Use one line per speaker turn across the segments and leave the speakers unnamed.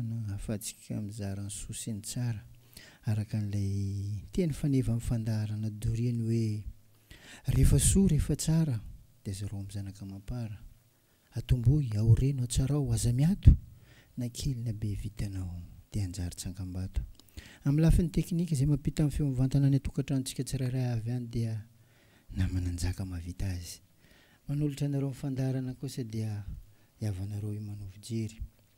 no hahafahantsika mizara ny soa sy ny tsara, araka an'ilay teny faneva amin'ny fandaharana doriany hoe, Rehefa soa, rehefa tsara, dia zarao amin'ny zanaka amam-para. Atombohy, aoreno, atsarao, aza miato, na kely na be vitanao, dia hanjary tsangambato. Amin'ny lafiny teknika, izay mampita ny feo mivantana any an-tokantranontsika tsirairay avy any dia namana njaka mahavita azy. Manolotra anareo ny fandaharana kosa dia ny havanareo Imanovo Jery.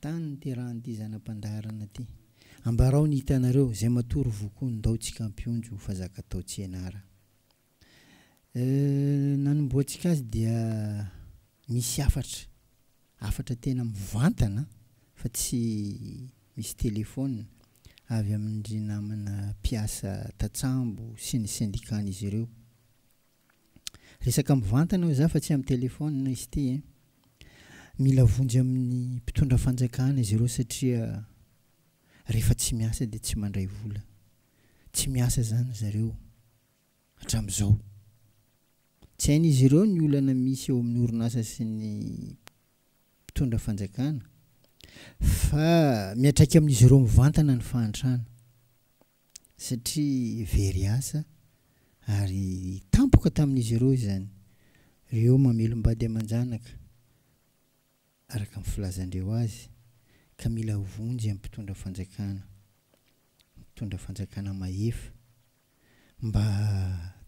Tany niterahan'ity zana-pandaharana ty. Ambarao ny hitanareo, zay matory vokoa ndao tsika ampionjo ho fazaka tao Tsienara. Euh, nanombohantsika azy dia misy hafatra, hafatra tena mivantana fa tsy misy telephone, avy amin-dry namana mpiasa tatsambo sy ny syndicat-n'izy ireo. Resaka mivantana hoy za fa tsy am telephone izy ty eh. Mila vonjy aminy mpitondra fanjakana izy ireo satria rehefa tsy miasa dia tsy mandray vola. Tsy miasa zany zareo hatramizao. Tsy hain'izy ireo ny olana misy eo amin'ny orinasa sy ny mpitondra fanjakana fa miatraika amin'izy ireo mivantana ny fahantrana. satria very asa ary tampoka tamin'izy ireo izany, ireo mamelom-bady aman-janaka, araka ny filazan-dreo azy, ka mila vonjy amin'ny mpitondra fanjakana, mpitondra fanjakana mahefa, mba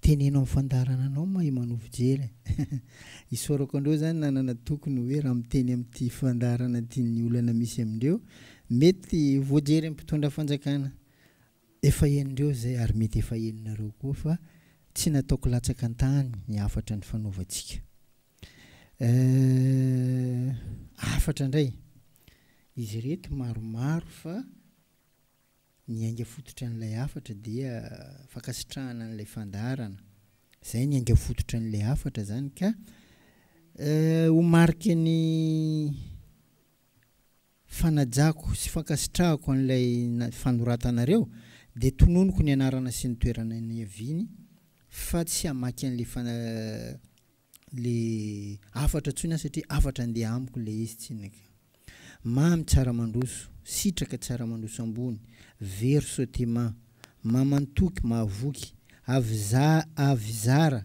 teneno amin'ny fandaharana anao mahay manoa fijery e! isaorako an-dreo izany nanana toky ny hoe raha miteny amin'ity fandaharana ity ny olana misy amin-dreo Mety voajery mpitondra fanjakana efa henondreo izay ary mety efa henonareo koa fa tsy nataoko latsaka an-tany ny hafatra nifanaovantsika. Eh, hafatra indray. Izy ireto maromaro fa ny ainga fototra an'ilay hafatra dia fankasitrahana an'ilay fandaharana. Izay ny ainga fototra an'ilay hafatra izany ka eh, ho mariky ny Fanajako sy fankasitrahako an'ilay fanoratanareo dia tononiko ny anarana sy ny toerana niaviany fa tsy hamaky an'le le hafatra intsony aho satria hafatra andeha amiko ilay izy tsy naka. Mamy tsara mandroso, sitraka tsara mandroso ambony, very sotima, mamantoky, mahavoky, avy zara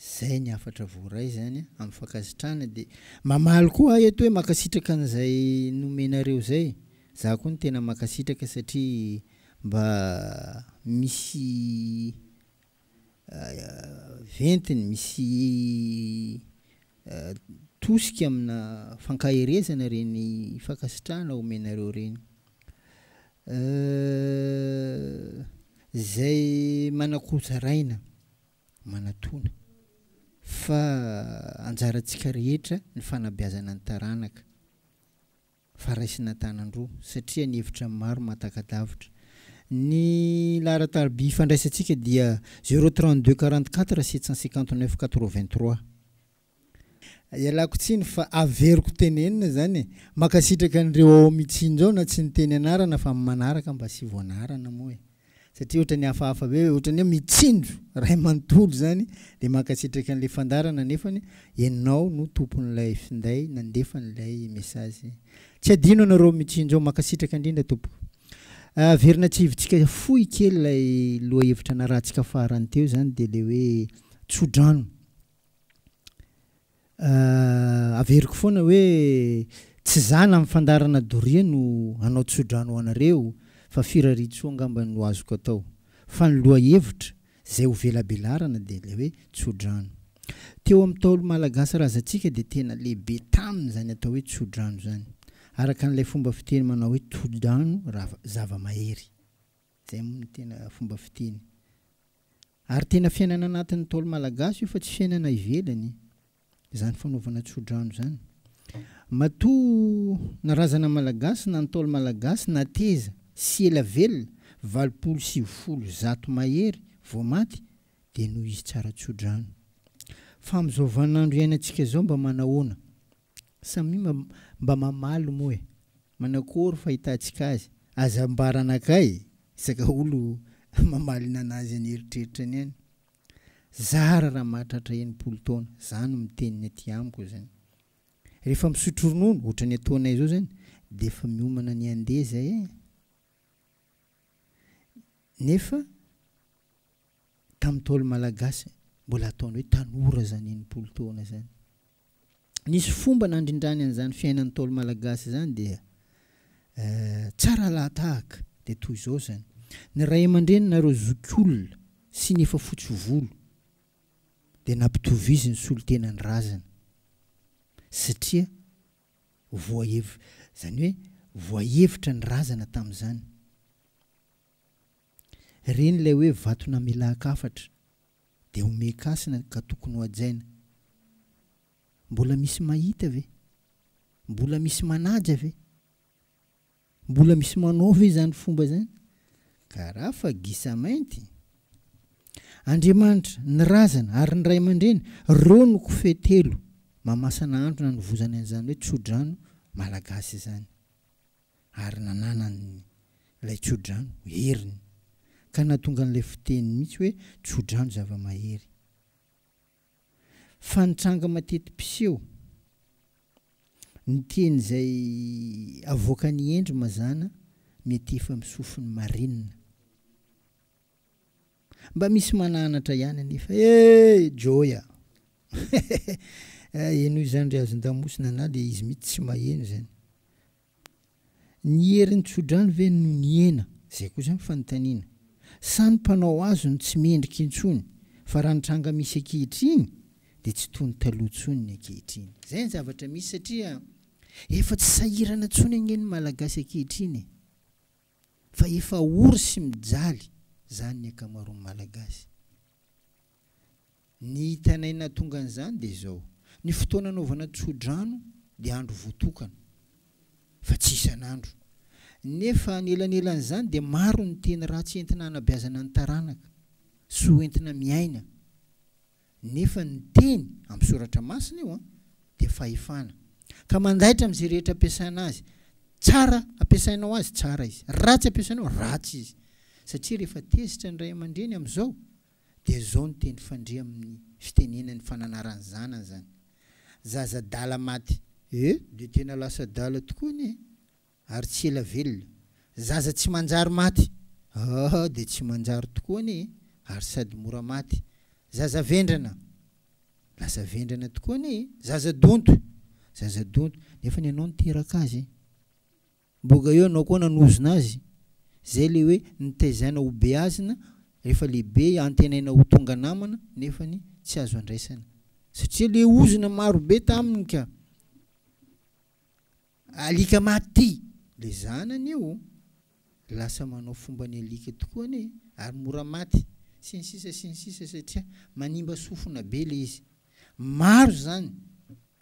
Izay ny hafatra voaray izany an, amin'ny fankasitrahana dia mamaly koa aho eto hoe mankasitraka an'izay nomenareo izay. Izaho koa no tena mankasitraka satria mba misy ventiny, misy tosika amina fankaherezana ireny fankasitrahana omenareo ireny. Izay manakorotsaraina. manatona fa anjarantsika rehetra ny fanabeazana ny taranaka fa raisina an-tanan-droa satria ny hevitra maro mahataka-davitra. Ny laharan-tariby ifandraisantsika dia zéro trente-deux quarante-quatre sept cent cinquante-neuf quatre-vingt-trois. Ialako tsiny fa averiko tenenina zany e. Makasitraka an'ireo ao Mitsinjo ao na tsy niteny anarana fa manaraka mba asivo anarana moa e. Satria otrany hafahafa be otrany hoe Mitsinjo ray manontolo zany de mankasitraka an'le fandarana nefany enao no tompon'ilay finday nandefa an'ilay message. Tsy adino anareo Mitsinjo ao makasitraka indrindra tompoko. Averina tsivotsika fohy kely ilay lohahevitra narahantsika farany teo zany de le hoe tsodrano averiko foana hoe tsy za na ny fandara na doria no hanao tsodrano ho anareo fa firariantsoa angamba no azoko atao fa ny lohahevitra zay ho velabelarana dia ilay hoe tsodrano teo amin'ny ntaolo malagasy razantsika dia tena lehibe taminy zany atao hoe tsodrano zany araka an'ilay fomba fiteny manao hoe toldrano zava-mahery Zay moa no tena fomba fiteny. Ary tena fiainana anatin'ny ntaolo malagasy io fa tsy fiainana ivelany zany fanaovana tsodrano zany. Matoa na razana malagasy na ntaolo malagasy nateza sy ela velona valopolo sivifolo zato mahery vao maty dia noho izy tsara tsodrano. Fa amin'izao vaninandro iainantsika zao mba manahoana? Samia mba mba mamaly moa e! Manakory fahitantsika azy? Aza ambara anakay isaka olo mamaly ny anazy any eritreritrany any. Zara raha mahatratra enimpolo taona, za no miteny ny aty amiko zany. Rehefa misotro ronono otrany ataonay zao zany de efa miomana ny handeha zay e! Nefa tam ntaolo malagasy mbola ataony hoe tanora zany enimpolo taona zany. nisy fomba nandrindrany an'izany fiainan'ny Ntaolo Malagasy izany dia tsara lahatahaka dia toy izao izany, ny ray aman-dreny nareo zokiolona sy ny efa fotsy volo dia nampitoviziny solontenan'ny razana satria voahev izany hoe voahevitra ny razana tamin'izany. Ireny ilay hoe vato namelan-kafatra. Dia homehy kasina ka tokony hohajaina. Mbola misy mahita ve? Mbola misy manaja ve? Mbola misy manao ve izany fomba izany? Ka raha fa gisa mainty. Andriamanitra, ny razana, ary ny ray aman-dreny, ireo no kofehy telo mahamasana andro nanovozany an'izany hoe tsodrano malagasy izany. ary nananany ilay tsodrano, heriny, ka nahatonga an'ilay fiteny mihitsy hoe tsodrano zava-mahery. Fa nitranga mateti-piseho. Ny teny izay avoakan'i Hendry mazàna mety efa misofin'ny marina. Mba misy mananatra ihany anefa e Joy a! Haihaihaihay! Henoy izany ry hazon-damosina na le izy mihitsy tsy maheno izany. Ny herin'ny tsodrano ve no nihena? Izay kosa ny fanontaniana. Sa ny mpanao hazo no tsy mendrika intsony fa raha ny tranga misy ankehitriny dia tsy toy ny taloha intsony ny ankehitriny. Izay ny zavatra misy satria efa tsy sahirana intsony anie ny Malagasy ankehitriny e! Fa efa ory sy mijaly zany ny akamaroan'ny Malagasy. Ny hitanay nahatonga an'izany dia izao, ny fotoana anaovana tsodrano dia andro voatokana, fa tsy isan'andro. Nefa anelanelan'izany dia maro ny teny ratsy entina hanabeazana ny taranaka, sy ho entina miaina nefa ny teny amin'ny soratra masina io dia fahefana ka mandaitra amin'izay rehetra ampiasaina azy, tsara ampiasainao azy tsara izy, ratsy ampiasainao ratsy izy, satria rehefa tezitra ny ray aman-dreny amin'izao dia izao ny teny fandre amin'ny fitenenany fa nanara ny zanany izany zaza adala maty eh! Dia tena lasa adala tokoa anie Ary tsy ela velona. Zaza tsy manjary maty. Ah, dia tsy manjary tokoa anie e! Ary sady mora maty. Zaza vendrana. Lasa vendrana tokoa anie e! Zaza donto. Zaza donto. Nefa ny anao niteraka azy e! Boga eo ianao koa nanozona azy. Izay ilay hoe nitaizaina ho beazina, rehefa lehibe antenaina ho tonga namana, nefa ny tsy azo andraisana. Satria ilay ozona maro be taminy ka. Alika maty le zanany io oh. Lasa manao fomba ny alika tokoa anie ary mora maty sy ny sisa sy ny sisa satria manimba sofina be le izy. Maro zany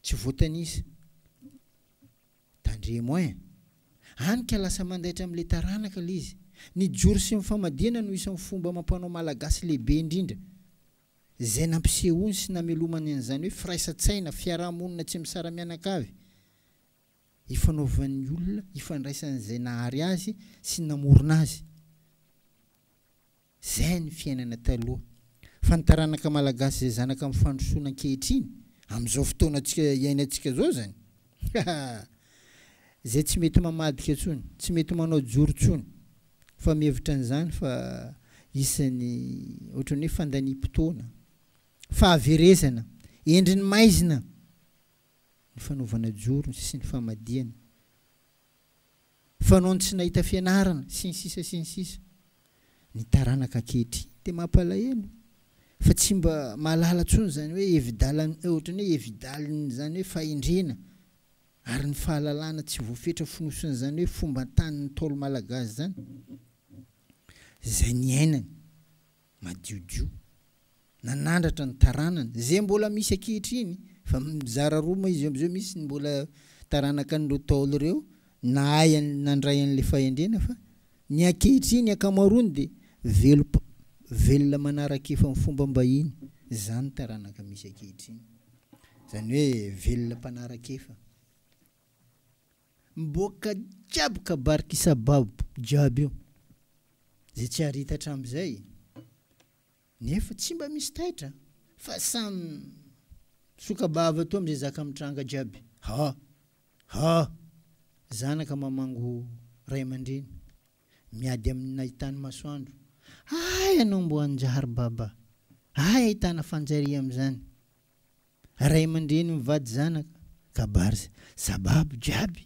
tsy voatanisa. Tandremo ein. Any ka lasa mandaitra amle taranaka le izy. Ny joro sy ny famadihana no isan'ny fomba amam-panao malagasy lehibe indrindra zay nampisehoany sy namelomany an'izany hoe firaisan-tsaina, fiaraha-monina tsy misara-mianakavy. ifanaovan'ny olona, ifandraisan'izay nahary azy sy namorona azy. Izay ny fiainana taloha. Fa ny taranaka malagasy izay zanaka amin'ny fandrosoana ankehitriny, amin'izao fotoana iainantsika izao izany, haa! izay tsy mety mamadika intsony, tsy mety manao joro intsony, fa mihevitra an'izany fa isan'ny ohatran'ny hoe fandaniam-potoana, fahaverezana, endrin'ny maizina. ny fanaovana jorony sy ny famadihana, fanaony tsy nahita fianarana sy ny sisa sy ny sisa. Ny taranaka ankehitriny dia mampalahelo fa tsy mba mahalala intsony izany hoe hevi-dalan ohatran'ny hoe hevi-dalin'izany hoe fahendrena ary ny fahalalana tsy voafetra fonosin'izany hoe fomban-tanin'ny Ntaolo Malagasy izany izay niainany. madiodio nanandratra ny taranany izay mbola misy ankehitriny fa mizara roa moa izy io amzao misy ny mbola taranaka an'ireo ntaolo ireo nahay an nandray an'ilay fahendrena fa ny ankehitriny ankamaroany dia velop velona manaraka efa ny fomba mbahiny zany taranaka misy ankehitriny zany hoe velona mpanaraka efa. Miboaka jiaby kabar kisabab jiaby io zay tsy ary hita hatramizay nefa tsy mba misy taitra fa samy misokabava toa amizay zaka mitranga jiaby ha ha zanaka mamango ray amandreny miady aminy nahitany masoandro hay anao mbo anjary baba hay ahitana fanjariamizany Ray aman-dreny mivady zanaka, kabary sy sababo jiaby.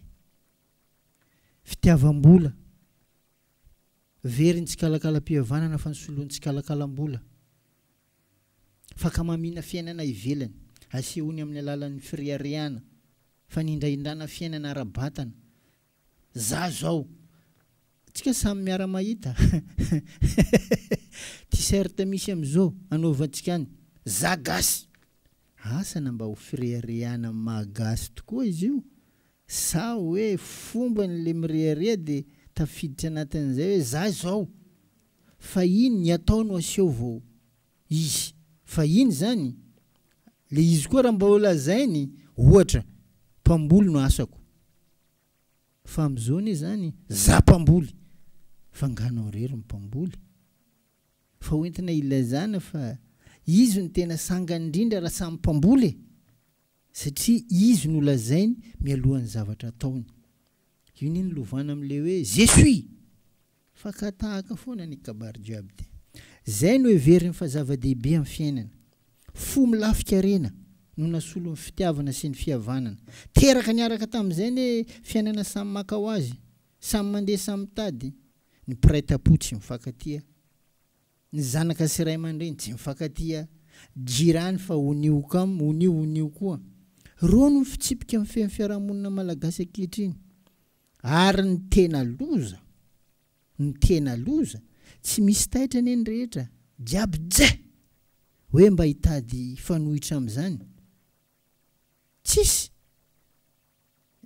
Fitiavam-bola. Very ny tsikalakalam-pihavanana fa ny solony tsikalakalam-bola. Fakamamiana fiainana ivelany, asehony amin'ny alalan'ny fireharehana, fanindrahindrana fiainana ara-batana, Za zao. Tsika samy miara mahita. T-shirt misy am zo anaovantsika any. Za gasy. Asa na mba ho fireharehana am maha gasy tokoa izy io sa oe fombany le mirehareha de tafiditra anatin'izay oe za zao. Fa inn ny atao no aseho vao. izy fa iny zany le izy koa raha mba ho lazainy ohatra mpamboly no asako fa amzao ne zany za mpamboly fa nga nao rery no mpamboly fa ho entina ilazana fa izy no tena sangany indrindra raha samy mpamboly e satria izy no lazainy mialohan'ny zavatra ataony io ne ny lovana amle hoe je suis Fakan-tahaka foana ny kabary jiaby dia izay no heveriny fa zava-dehibe amin'ny fiainana. Fo milafika harena no nasolo ny fitiavana sy ny fihavanana. Teraka niaraka tamin'izay anie fiainana samy maka ho azy, samy mandeha samy mitady. Ny mpiray tam-po tsy mifankatia. Ny zanaka sy ray aman-dreny tsy mifankatia. Jirany fa onioka am, onio onio koa. Ireo no fitsipika mifehy ny fiarahamonina malagasy ankehitriny. Ary ny tena loza, ny tena loza, tsy misy taitra anie ny rehetra, jiaby jeh! hoe mba hitady fanohitra amin'izany? Tsisy!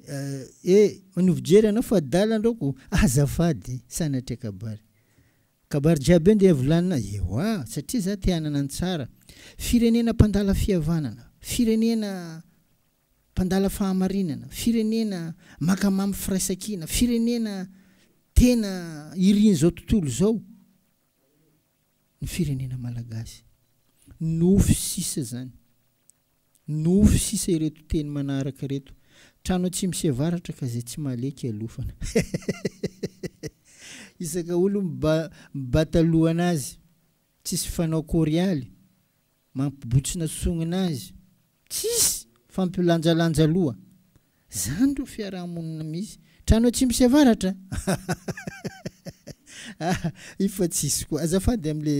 Eh, eh, manova jery ianao fa adala andraoko, azafady, sanatria kabary. Kabary jiaby eo ndeha volanina? Ewa, satria za te hanana ny tsara. Firenena mpandala fihavanana, firenena. Mpandala fahamarinana, firenena maka mamy firaisankina, firenena tena irin'izao tontolo izao ny firenena malagasy. Nofy sisa izany. Nofy sisa ireto teny manaraka ireto. Trano atsimo sy avaratra ka izay tsy mahaleha kialofana. Isaka olo miba mibata lohana azy. Tsisy fanao korialy. Mampibotsina songona azy. Tsisy fampilanjalanja loha. Zany ro fiarahamonina misy. Trano atsimo sy avaratra ah io fa tsisy koa. Azafady amle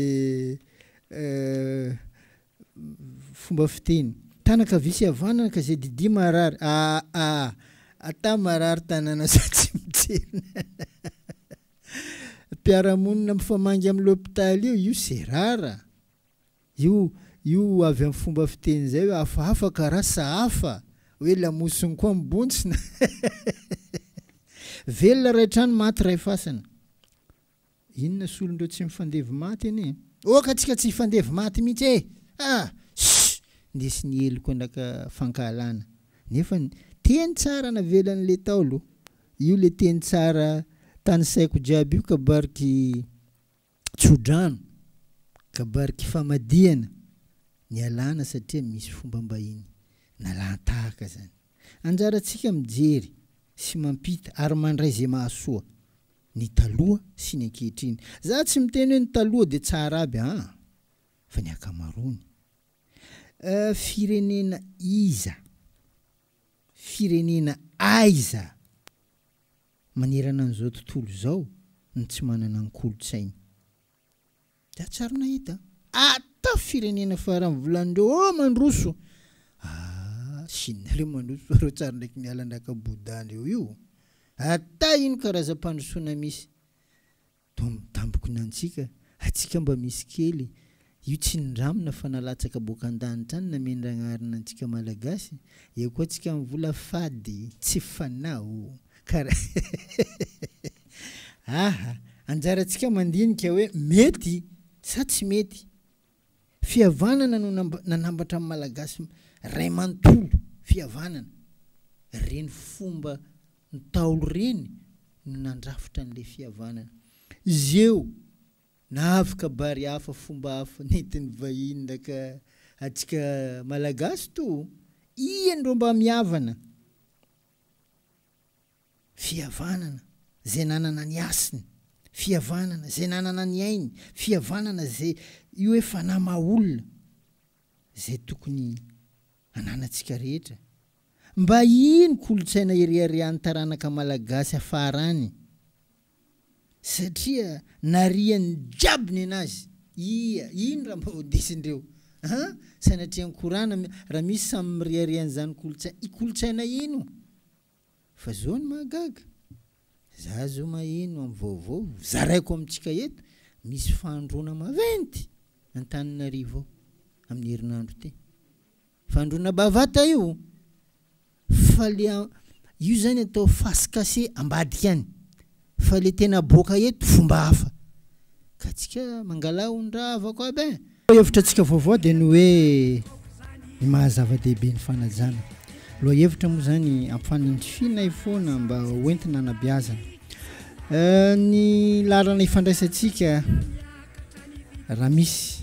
fomba fiteny. Tanana kavia sy havanana ka zay didia marary aa ata marary tanana sa tsy mitsenina mpiaramonina mifamangy am lopitaly io io se rara. Io io avy amin'ny fomba fiteny izay hoe hafahafa ka rasa hafa, hoe lamosiny koa mibontsina. Velona iray trano, maty iray fasana. Inona solondreo tsy mifandevo maty anie? Oka tsika tsy hifandevo maty mihitsy e! Ah! Ssss! Nisy ny heloka naka fankahalana. Nefa ny teny tsara navelan'ilay Ntaolo. Io ilay teny tsara tanisaiko jiaby io kabary ky. tsodrano, kabariky famadihana, nialana satria misy fombam-bahiny nalan-tahaka izany. Anjarantsika mijery sy mampita ary mandray izay mahasoa ny taloha sy ny ankehitriny. Za tsy miteny hoe ny taloha dia tsara aby aa fa ny akamaroany. Firenena iza? Firenena aiza? Manerana an'izao tontolo izao ny tsy manana ny kolontsainy. Dia tsary nahita ata firenena farany volan'ireo oh mandroso ah Chine ireo mandroso fa ireo tsary ndraiky miala andraka Bouddha ndreo io. Ata ino karazam-pandrosoana misy. Toa mitambokona antsika, antsika mba misy kely, io tsinindramina fa nalatsaka boaka an-danitra any namendragnarina antsika Malagasy, eo koa antsika amin'ny vola fady, tsy fanao, kara aha, anjarantsika mandinika hoe mety sa tsy mety. Fihavanana no nanambatra ny Malagasy ray manontolo, fihavanana. Ireny fomba Ntaolo ireny no nandrafitra an'ilay fihavanana. Izy eo nahavy kabary hafa, fomba hafa nentin'ny vahiny naka antsika Malagasy toa iany ireo mba mihavana. Fihavanana izay nanana ny hasiny, fihavanana izay nanana ny ainy, fihavanana izay io hoe fanahy maha olona izay tokony hananantsika rehetra. Mba iny kolontsaina ireharehan'ny taranaka malagasy hafaharany satria narian'ny jiaby ny anazy ia iny raha mba ho desindreo an! Sanatria ny korana raha misy samy mirehareha an'izany kolontsaina kolontsaina iny o! Fa zao no mahagaga, za zao maheno am vaovao, zaraiko amintsika eto, misy fahandroana maventy Antananarivo ao amin'ny herinandro ity. Fahandroana bavata io, fa le io zany atao face cache ambadika any, Fa le tena aboaka eto fomba hafa ka tsika mangala ondrahavako aby eh! Lohahevitra antsika vaovao dia ny hoe ny maha zava-dehibe ny fanajana. Lohahevitra moa izany ampifanindrifinay foana mba ho entina anabeazana. Ny laharana ifandraisantsika raha misy.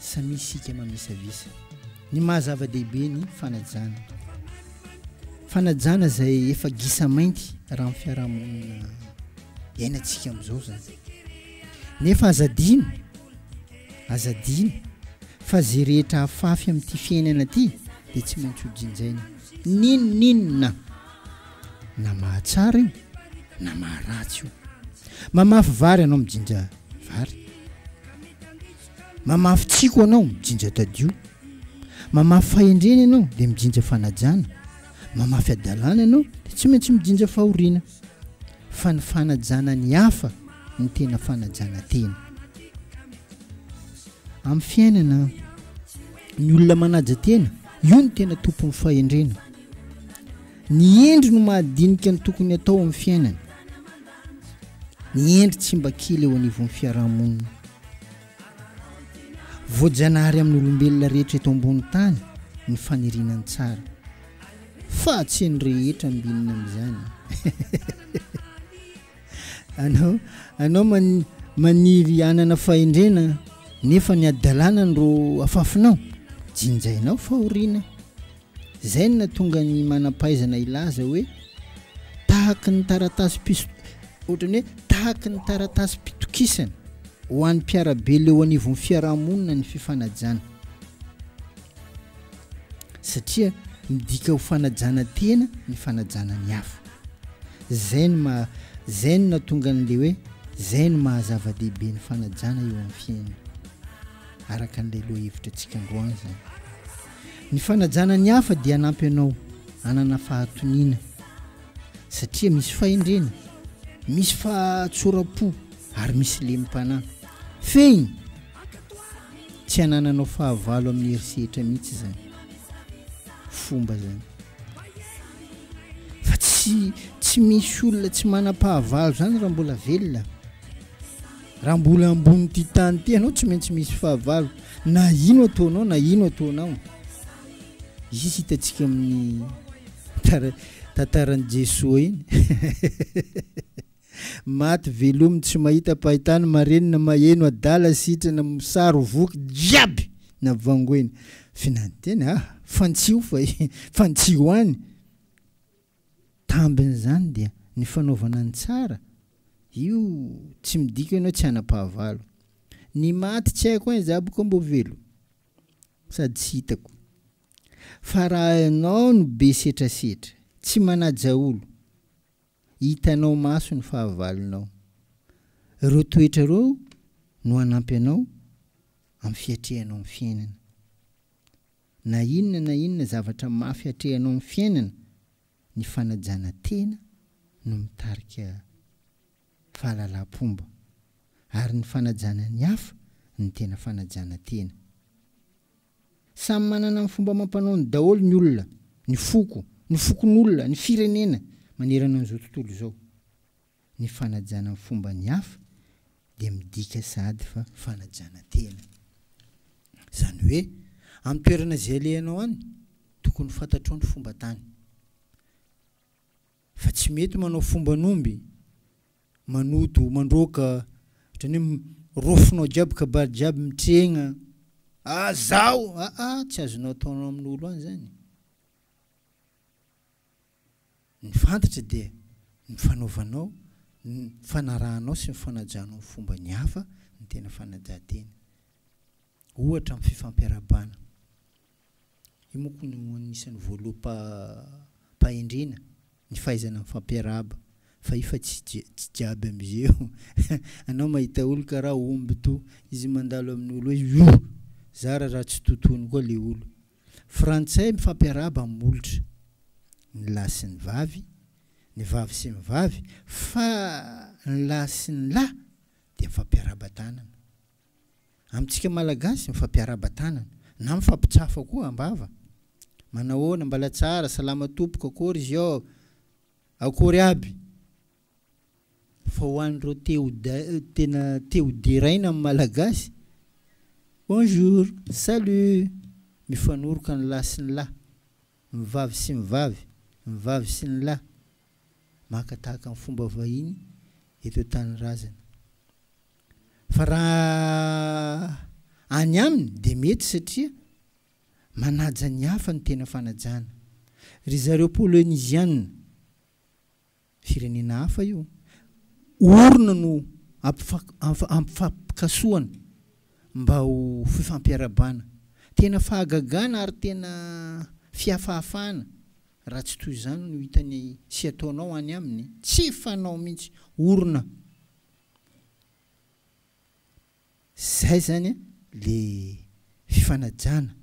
Samia isika mamisavisa ny maha zava-dehibe ny fanajana. Fanajana izay efa gisa mainty raha ny fiarahamonina iainantsika amin'izao izany. Nefa aza adino, aza adino fa izay rehetra afafy amin'ity fiainana ity dia tsy maintsy ho jinjaina n'inon'inona na mahatsara io na maharatsy io. Mamafy vary ianao mijinja vary mamafy tsiko anao mijinja tadio mamafy fahendrena ianao dia mijinja fanajana mamafy adalana ianao dia tsy maintsy mijinja fahoriana fa ny fanajana ny hafa ny tena fanajana tena amin'ny fiainana ny olona manaja tena io ny tena tompon'ny fahendrena ny endry no mahadinika ny tokony atao amin'ny fiainana ny hendry tsy mba kely eo anivon'ny fiarahamonina. Voajanahary amin'ny olombelona rehetra eto ambony tany ny faniriana ny tsara, fa tsy an'ny rehetra ambinina amin'izany. anao anao man, maniry hanana fahendrena nefa ny adalana no afafinao, jinjainao fahoriana. Izay no nahatonga ny manam-pahaizana hilaza hoe tahaky ny taratasim-pis-, ohatran'ny hoe tahaky ny taratasim-pitokisana ho an'ny mpiara-be leo anivon'ny fiaraha-monina ny fifanajana, satria midika ho fanajana tena ny fanajana ny hafa. Izay no maha, izay no nahatonga an'ilay hoe izay no maha zava-dehibe ny fanajana eo amin'ny fiainana, araka an'ilay lohahevitrantsika androany izany. Ny fanajana ny hafa dia hanampy anao hanana fahatoniana satria misy fahendrena, misy fahatsoram-po ary misy lemi-panahy. Fehiny, tsy hanananao fahavalo amin'ny hery sehatra mihitsy izany. Fomba izany. Fa tsy tsy misy olona tsy manam-pahavalo izany raha mbola velona. Raha mbola ambonin'ity tany ity ianao tsy maintsy misy fahavalo na ino ataonao na ino ataonao izy hitantsika amin'ny tara tantaran'i Jesoa iny maty velomy tsy mahita pahitany marenina maheno adala sitrana misaro voky jiaby na vangoina finantena ah fantsio fa fantsio any Tambin'izany dia ny fanaovana ny tsara, io tsy midika ianao tsy hanam-pahavalo. Ny maty tsy haiko an izaho boka mbo velo sady tsy hitako. Fa raha ianao no be setrasetra, tsy manaja olo, hitanao maso ny fahavalonao. Ireo toetra ireo no hanampy anao amin'ny fiatrehanao ny fiainana. Na inona na inona zavatra mafy atrehanao amin'ny fiainana, ny fanajana tena no mitarika fahalalam-pomba, ary ny fanajana ny hafa no tena fanajana tena. Samy manana ny fomba amam-panaony daholo ny olona, ny foko, ny fokonolona, ny firenena manerana an'izao tontolo izao. ny fanajana ny fomba ny hafa dia midika sahady fa fanajana tena. Izany hoe amin'ny toerana izay alehanao any, tokony fantatrao ny fomba tany. Fa tsy mety manao fomban'omby, manodo, mandroaka, ohatran'ny hoe rofonao jiaby kabary jiaby mitrehina, ah zaho, aa tsy azonao ataonao amin'olo any izany. Ny fantatra dia ny fanaovanao, ny fanarahanao sy ny fanajanao ny fomba ny hafa ny tena fanajan-tena. Ohatra amin'ny fifampiarahabana. Io manko no anisan'ny voaloham-pahendrena, ny fahaizana mifampiarahaba. Fa io fa tsy tsy jiaby amin'izeo. Anao mahita olo karaha omby toa izy mandalo amin'olo hoe, Io! Zara raha tsy totoiny koa le olo. Frantsay mifampiarahaba amin'ny molotra, ny lahy sy ny vavy, ny vavy sy ny vavy, fa ny lahy sy ny lahy dia mifampiarahaba tanana. Amintsika Malagasy, mifampiarahaba tanana, na mifampitsafa koa am-bava. Manahoana, mbala tsara, salama tompoko, akory izy ao? Akory aby! Fa ho an'ireo te ho tena te ho deraina amin'ny Malagasy, Bonjour, Salut! Mifanoroka ny lahy sy ny lahy, ny vavy sy ny vavy, ny vavy sy ny lahy, maka tahaka ny fomba vahiny eto an-tanirazana. Fa raha any aminy dia mety satria manaja ny hafa ny tena fanajana. Ry zareo Poloniziana. Firenena hafa io. Orina no ampifapikasohana mba ho fifampiarahabana. Tena fahagagana ary tena fihafahafahana raha tsy toy izany no hitany sy ataonao any aminy. Tsy fanao mihitsy. Orina. Izay izany ilay fifanajana.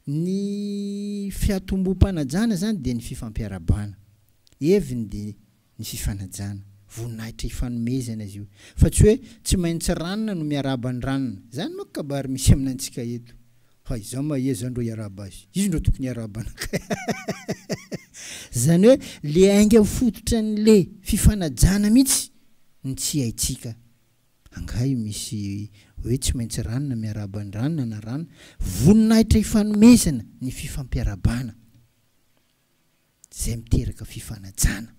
Ny fiatombom-panajana izany dia ny fifampiarahabana. Heviny dia ny fifanajana. Voninahitra ifanomezana izy io. Fa tsy hoe tsy maintsy ranona no miarahaba ny ranona. Izany manko kabary misy aminantsika eto. Hay izaho ma iza ndro hiarahaba azy? Izy ndro tokony hiarahaba anakay ahahaha. Izany hoe le ainga fototran'le fifanajana mihitsy no tsy haintsika Angaha misy hoe tsy maintsy ranona miarahaba ny ranona na rano? Voninahitra ifanomezana ny fifampiarahabana izay miteraka fifanajana.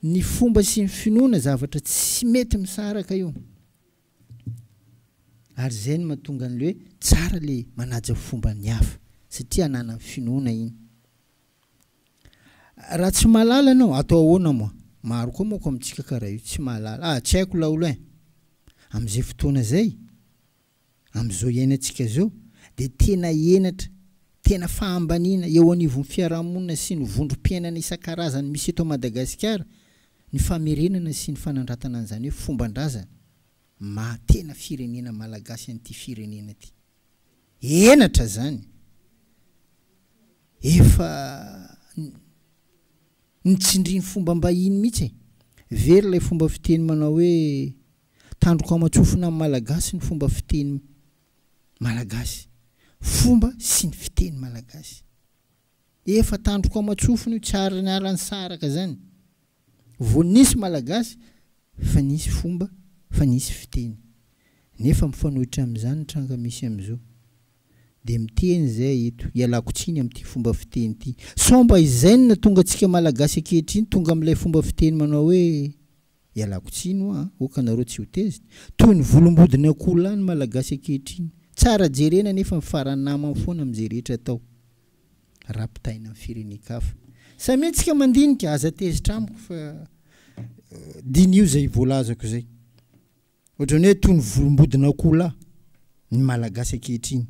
Ny fomba sy ny finoana zavatra tsy mety misaraka io. Ary izay no mahatonga an'ilay hoe tsara ilay manaja fomban'ny hafa satria ananany finoana iny. Raha tsy mahalala ianao, atao ahoana moa? Maro koa manko amintsika karaha io, tsy mahalala. Ah, tsy haiko laolo eh! Amin'izay fotoana izay, amin'izao iainantsika izao, dia tena henatra, tena fahambaniana eo anivon'ny fiarahamonina sy ny vondrom-piainana isan-karazany misy eto Madagasikara ny famerenana sy ny fanandratana an'izany hoe fomban-drazana maha tena firenena malagasy an'ity firenena ity. Henatra izany! Efa nitsindriny fombam-bahiny mihitsy e! Very ilay fomba fiteny manao hoe tandroko aman-tsofina amin'ny Malagasy ny fomba fiteny Malagasy. Fomba sy ny fiteny Malagasy. Efa tandroko aman-tsofina io, tsy ary niala nisaraka izany. Vao nisy Malagasy fa nisy fomba, fa nisy fiteny. Nefa mifanohitra amin'izany ny tranga misy amin'izao. Dia miteny izahay eto, ialako tsiny amin'ity fomba fiteny ity. Sao mba izay no nahatonga antsika Malagasy ankehitriny tonga amin'ilay fomba fiteny manao hoe, ialako tsiny hoa an, hoka anareo tsy ho tezitra. Toy ny volombodin'akoholahy ny Malagasy ankehitriny. Tsara jerena nefa mifaranamany foana amin'izay rehetra atao. rapitaina amin'ny firenen-kafa. Samia antsika mandinika, aza tezitra amiko fa diniho izay voalazako izay. Ohatran'ny hoe toy ny volombodin'akoho lahy ny Malagasy ankehitriny.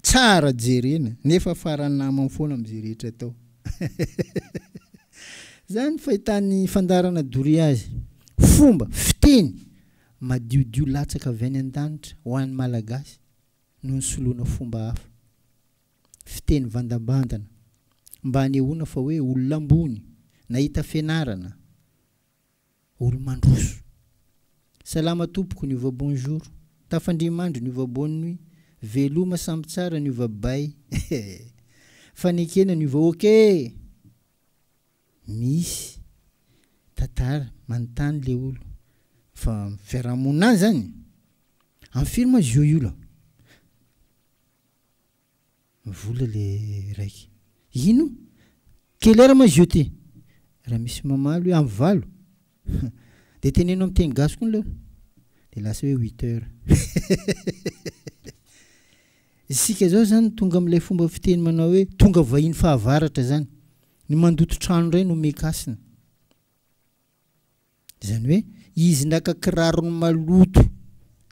Tsara jerena, nefa faran'ny namany foana amin'izay rehetra atao. Izany ny fahitan'ny fandaharana doria azy. Fomba, fiteny, madiodio latsaka avy any an-danitra ho an'ny Malagasy no nisoloana fomba hafa. fiteny vandambandana mba hanehoana fa hoe olona ambony, nahita fianarana, olo-mandroso. Salama tompoko ny ova bonjour, tafandrimandry ny ova bonne nuit, veloma samy tsara ny ova bay eh! Fanekena ny ova ok! Misy tantara manontany le olo fa fiarahamonina any zany? Am firy ma zio io la? Vola le raiky. Ino? Quelle heure ma izy io ty? Raha misy mamaly hoe am valo? Dia teneno am teny gasy koa ny leo. Dia lasa hoe huit heures. Isika zao zany tonga am ilay fomba fiteny manao hoe tonga vahiny fahavaratra zany. Ny mandoto trano indray no meka hasina. Izany hoe izy naka kirarony maloto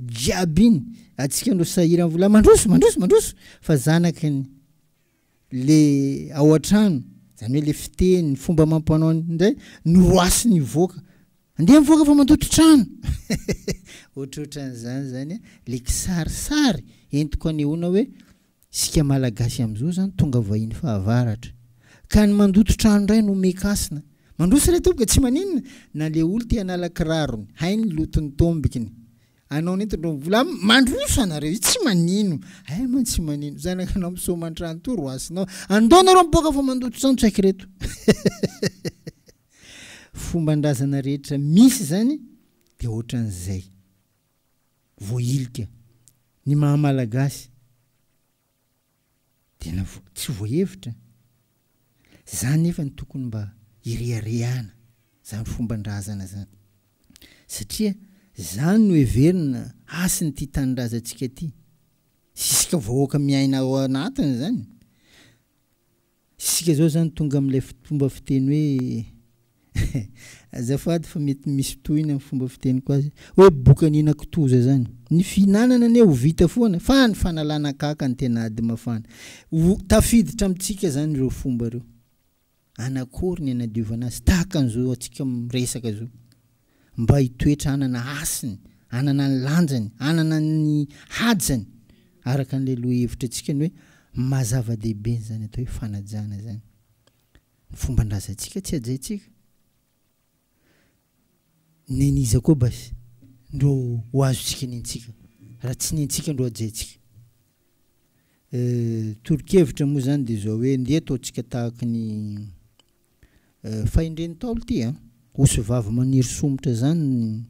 jiaby iny, antsika no sahirana vola mandroso, mandroso, mandroso fa zanakiny le ao an-trano, izany hoe le fiteny, ny fomba amam-panao indray no roasiny hivoaka. Andeha mivoaka fa mandoto trano! Ohatrohatran'izany izany le kisarisary entiko anehoana hoe Isika Malagasy amin'izao izany tonga vahiny fahavaratra, ka ny mandoto trano indray no mekasina. Mandroso ilay tompoko e, tsy maninona na ilay olona te hanala kirarony, hay ny loton'ny tombokiny. Anao nentindreo ny vola aminy, mandroso anareo io, tsy manino. Hay mantsy tsy manino, zanakanao misaoma an-trano toa ro hasinao. Andao nareo mipoaka fa mandoto trano tsy haiko ireto. Fomban-drazana rehetra misy izany dia ohatran'izay. voahilika ny maha malagasy tena tsy voahevitra zany nefa ny tokony mba ireharehana zany fomban-drazana zany satria zany no heverina hasin'ity tanindrazantsika ty sy isika vahoaka miaina ao anatiny zany Isika izao izany tonga amin'ilay fomba fiteny hoe azafady fa mety misy tohiny amin'ny fomba fiteniko azy, hoe boka nihinana kitoza izany. Ny fihinanana anie ho vita foana fa ny fanalana kaka no tena ady mafana. Ho tafiditra amintsika izany ireo fomba ireo. Anakory ny anadiovana azy tahaka an'izao antsika miresaka izao? mba hitoetra hanana hasiny, hanana ny lanjany, hanana ny hajany, araka an'ilay lohahevitra antsika ny hoe maha zava-dehibe an'izany atao hoe fanajana izany. Ny fomban-drazantsika tsy hajaintsika. Nen'iza koa basy no ho azontsika nentsika raha tsy nentsika no hajaintsika? Toro-kevitra moa izany dia izao hoe ndeha ataontsika tahaka ny Fahendren'ny Ntaolo ty a! Osy vavy maniry somotra zany ny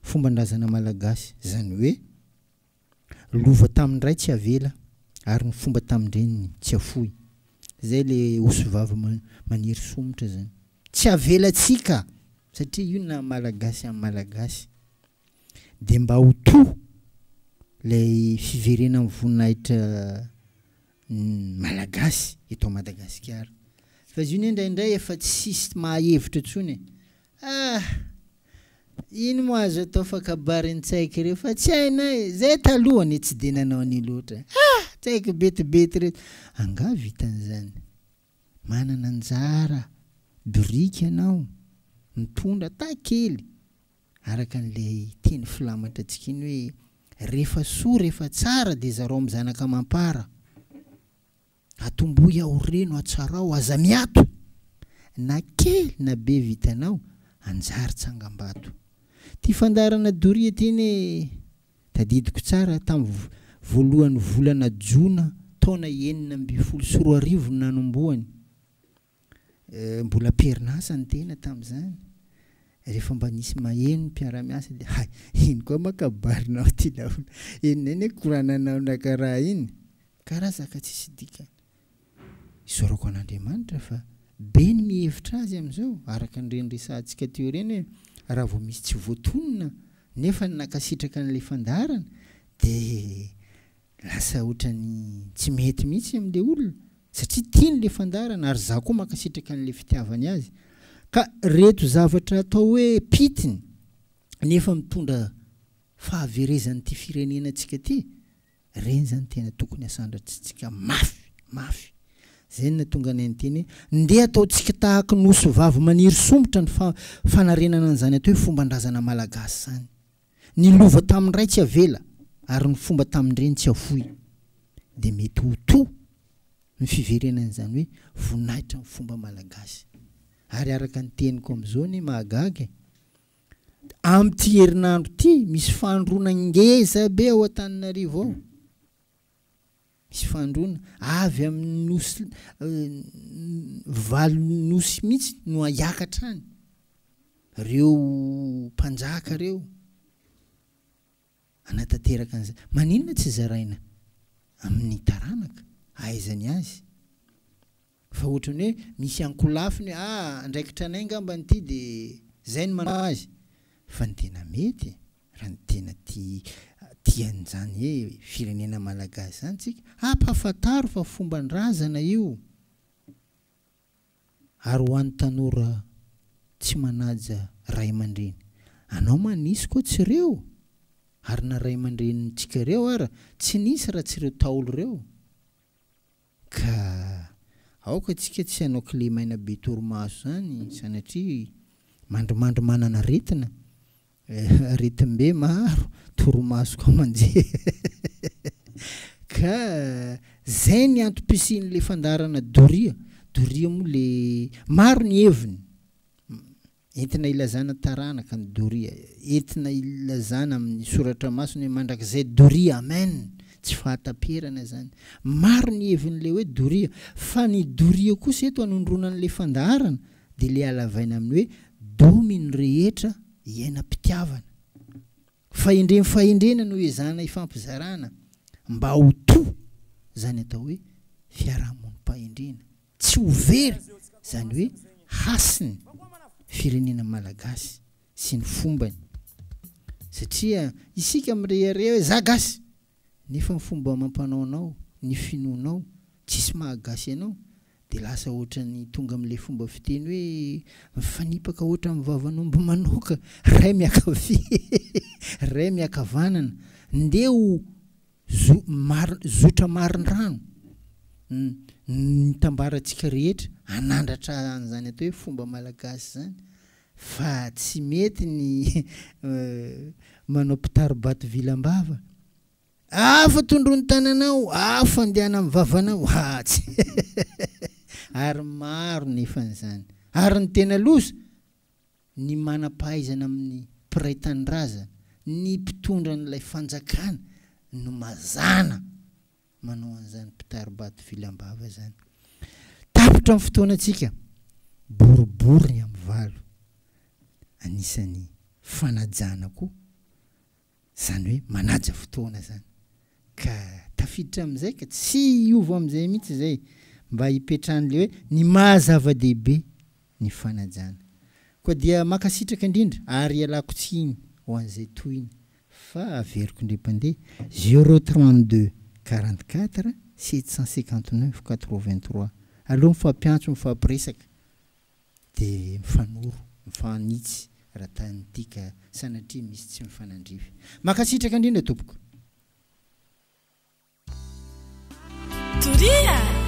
fomban-drazana malagasy, zany hoe lova tamin-dray tsy avela ary ny fomba tamin-dreniny tsy afoy. Zay le osy vavy maniry somotra zany. Tsy avelatsika satria io naha malagasy an'i malagasy. De mba ho toa lay fiverenan'ny voninahitra ny malagasy eto Madagasikara fa izy io ne indraindray efa tsisy mahahevitra intsony e! ah! ino moa azo atao fa kabarin-tsaiko ireo fa tsy hainay e! zay taloha anie tsy dia nanao an'io loatra e! ah! tsaiko betibety ireto angaha vitan'izany? manana anjara biriky ianao mitondra taha kely Araka an'ilay teny filamatra antsika iny hoe rehefa soa rehefa tsara dia zarao amin'ny zanaka amam-para. Atombohy aho reno hatsarao aza miato na kely na be vitanao hanjary tsangambato. Ity fandaharana doria ity anie tadidiko tsara tamin'ny voalohan'ny volana jona taona enina ambin'ny folo sy roa arivo no nanombohany. Mbola am-perinasa ny tena tamin'izany. Rehefa mba nisy maheno ny mpiara-miasa dia hay, iny koa ma kabarinao ity laolo. Eny indray ny hoe korananao nakaraha iny. Karazaka tsisy dikany. Isaorako an'Andriamanitra fa be ny mihevitra azy amin'izao, araka an'ireny resahantsika teo ireny hoe raha vao misy tsy voatonona nefa ny nankasitraka an'ilay fandaharana dia Lasa otrany tsy mety mihitsy amle olona satria tiany le fandaharana ary za koa mankasitraka anle fitiavany azy ka reto zavatra atao hoe pitiny nefa mitondra fahaverezan ty firenena tsika ty reny zany tena tokony asandrats tsika mafy mafy zay natonga anay niteny hoe ndeha atao tsika tahaky nosy vavy maniry somotra ny fa fanarenana anzany atao hoe fomban drazana malagasy zany. Ny lova tamin'ny ray tsy avela ary ny fomba tamin'ny reny tsy afoy. Dia mety ho toa ny fiverenan'izany hoe voninahitra ny fomba malagasy. Ary araka ny teniko amin'izao anie mahagaga e! Amin'ity herinandro ity, misy fandroana ngeza be ao Antananarivo ao. Misy fandroana avy amin'ny nosy valo nosy mihitsy no hiakatra any. Ireo mpanjaka ireo hanatanteraka an'izay. Maninona tsy zaraina amin'ny taranaka hahaizany azy? Fa ohatran'ny hoe misy ankolafiny hoe ah andraikitra anay ngambany ity de zay no manao azy. Fa ny tena mety e, raha ny tena tia tia an'izany hoe firenena malagasy izany tsika, ampahafantaro fa fomban-drazana io ary ho an'ny tanora tsy manaja ray aman-dreny. Anao manisy koa tsy reo ary na ray aman-drenintsika reo ara tsy nisy raha tsy reo taolo reo. Ka aoka tsika tsy hanao kilemaina be torimaso zany sanatria mandrimandry manana aretina eh aretimbe maro torimaso koa manjery ka zay ny antom-pisian'le fandaharana doria doria moa le maro ny heviny Entina hilazana taranaka ny doria, entina hilazana amin'ny soratra masina hoe mandrakizay doria amen! tsy fahataperana izany. Maro ny hevin'ilay hoe doria, fa ny doria kosa eto anondroana an'ilay fandaharana dia ilay halavaina amin'ny hoe domy ny rehetra iainam-pitiavana. Fahendrem fahendrena no ezahana hifampizarana mba ho toa izany atao hoe fiarahamonim-pahendrena. Tsy ho very izany hoe hasin'ny firenena malagasy sy ny fombany satria isika mirehareha hoe za gasy nefa ny fomba amampanaonao, ny finoanao tsisy maha gasy anao dia lasa ohatran'ny tonga amin'ilay fomba fiteny hoe mifanipaka ohatran'ny vavan'omby manioka ray miakavia ray miakavanana ndeha ho Zo, mar, zotra marindrano ny nitambarantsika rehetra hanandratra an'izany atao hoe fomba malagasy izany fa tsy mety ny manao mpitari-bato vilam-bava, afa tondroy ny tananao, afa andehana amin'ny vavanao, ha tsy ary maro ny efa an'izany ary ny tena loza ny manam-pahaizana amin'ny mpiray tanindrazana, ny mpitondra an'ilay fanjakana no mazàna manao an'izany mpitari-bato vily am-bava izany. Tapitra ny fotoanantsika, boribory ny amin'ny valo. Anisan'ny fanajàna koa Izany hoe manaja fotoana izany. Ka tafiditra amin'izay ka tsy hiova amin'izay mihitsy izay. Mba hipetrahan'ilay hoe ny maha zava-dehibe ny fanajana. Koa dia mankasitraka indrindra ary ialako tsiny ho an'izay tohiny fa averiko indray mpandeha zéro trente deux quarante quatre sept cent cinquante neuf quatre vingt trois aloha mifampiantso mifampiresaka Dia mifanoro, mifahanitsy raha tany ity ka sanatria misy tsy mifanandrify. Mankasitraka indrindra tompoko. Doria!